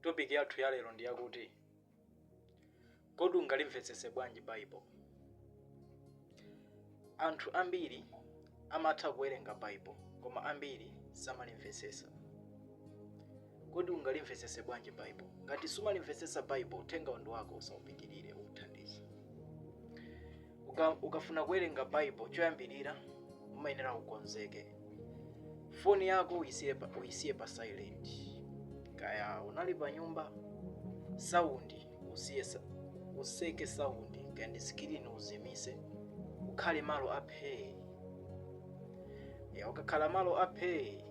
Topic yathu ya lero ndi yakuti kodi ungalimvetsetse bwanji Bible? Anthu ambiri amatha kuwerenga Bible koma ambiri samalimvetsetsa. Kodi ungalimvetsetse bwanji Bible? Ngati sumalimvetsetsa Bible, uthenga uno ndi wako usaupitirire ukuthandiza. Uka, ukafuna kuwerenga Bible choyambirira umayenera ukonzeke. foni yako uisiye pa, uisiye pa silent kaya unali pa nyumba saundi usiye sa- useke saundi kaya ndi sikilini uzimise ukhale malo aphee ya ukakhala malo aphee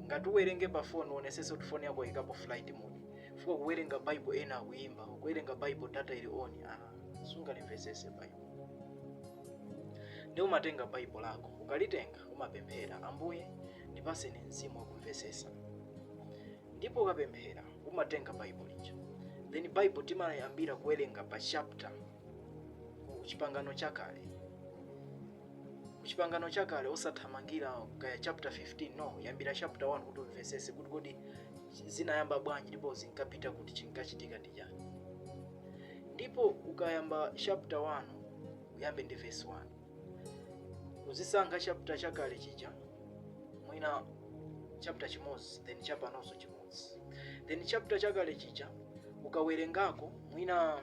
ngati uwerenge pa foni uonesese kuti foni yako ikaponi flight mode chifukwa ukuwerenga bible ena akuyimba ukuwerenga bible data ili on ah, sungalimvesese bible nde umatenga baibo lako ukalitenga umapemphera ambuye ndipaseni mzimu wakumvesesa ndipo ukapemphera umatenga baibo lija then baibo timayambira kuwerenga pa chapter ku chipangano chakale ku chipangano chakale osathamangira kaya chapter 15 no yambira chapter 1 kuti umvesese kuti kodi zinayamba bwanji ndipo zinkapita kuti chinkachitika ndi ija ndipo ukayamba chapter 1 uyambe ndi verse 1 uzisankha chapter chakale chija mwina chapter chimodzi then chapanonso chimodzi then chapter chakale chija ukawerengako mwina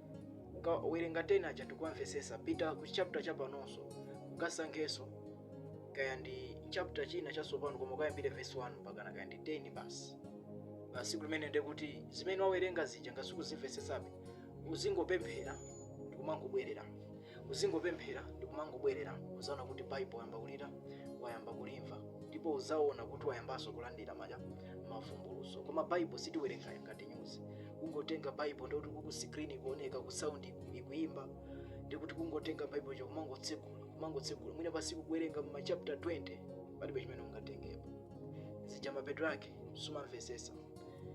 ukawerenga 10 aja ndikuwamvesesa pita ku chapter chapanonso ukasankhenso kaya ndi chapter china chatsopano koma ukayambire verse 1 mpaka kaya ndi 10 basi basi kenako ndi kuti zimene wawerenga zija ngati sukuzimvesesabe uzingopemphera ndikumangobwerera uzingopemphera ndikumangobwerera uzaona kuti baibo wayamba kuli wayamba kulimva ndipo uzaona kuti wayambanso kulandira maja mavumbuluso koma baibo sitiwerenga ngati nyuzi kungotenga baibo ndikuti uku screen ikuoneka uku sound iku- ikuimba ndikuti kungotenga baibo choncho kumangotsegula kumangotsegula mwina pasiku kuwerenga mu machapter 20 palibe chimene ungatengepo zija mapeto ake sumamvesesa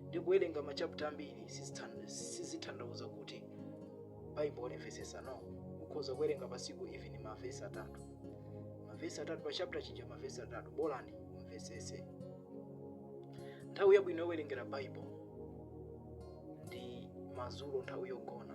ndi kuwerenga machapter ambiri sizithan- sizithandauza kuti baibo ulimvesesa no ukhoza kuwerenga pasiku even mavesi atatu mavesi atatu pa chapter chija mavesi atatu bolani umvesese Nthawi yabwino yowerengera Baibulo ndi madzulo nthawi yogona.